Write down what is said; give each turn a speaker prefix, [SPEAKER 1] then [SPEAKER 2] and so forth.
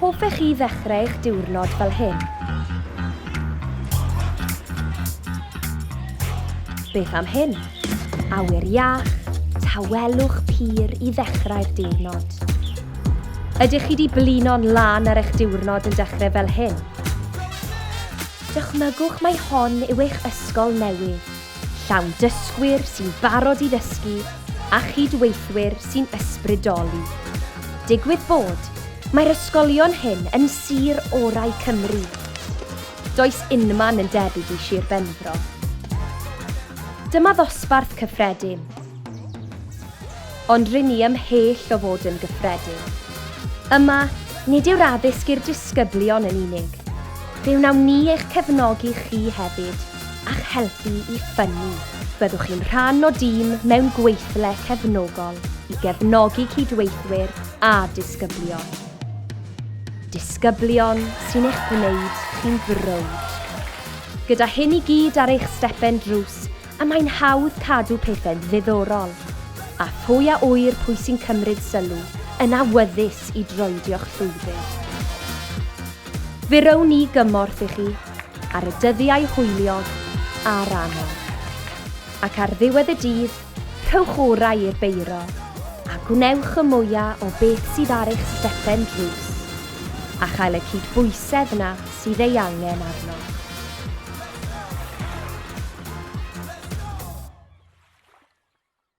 [SPEAKER 1] Hoffech chi ddechrau eich diwrnod fel hyn? Beth am hyn? Awyr iach, tawelwch pur i ddechrau'r diwrnod. Ydych chi wedi blino'n lan ar eich diwrnod yn dechrau fel hyn? Dychmygwch mai hon yw eich ysgol newydd. llawn dysgwyr sy'n barod i ddysgu a chyd-weithwyr sy'n ysbrydoli. Digwydd bod, mae'r ysgolion hyn yn sir orau Cymru. Does unman yn debyg i Sir Benfro. Dyma ddosbarth cyffredin. Ond rŷn ni ymhell o fod yn gyffredin. Yma, nid yw'r addysg i'r disgyblion yn unig. Fe wnawn ni eich cefnogi chi hefyd. a'ch helpu i ffynnu. Byddwch chi'n rhan o dîm mewn gweithle cefnogol i gefnogi cydweithwyr a disgyblion. Disgyblion sy'n eich gwneud chi'n frowd. Gyda hyn i gyd ar eich stepen drws, y mae'n hawdd cadw pethau'n ddiddorol. A phwy a ŵyr pwy sy'n cymryd sylw yn awyddus i droedio'ch llwybr. Fe rown ni gymorth i chi ar y dyddiau hwyliog a'r anodd. Ac ar ddiwedd y dydd, rhowch orau i'r beiro a gwnewch y mwya o beth sydd ar eich stepen drws, a chael y cydbwysedd 'na sydd ei angen arnoch.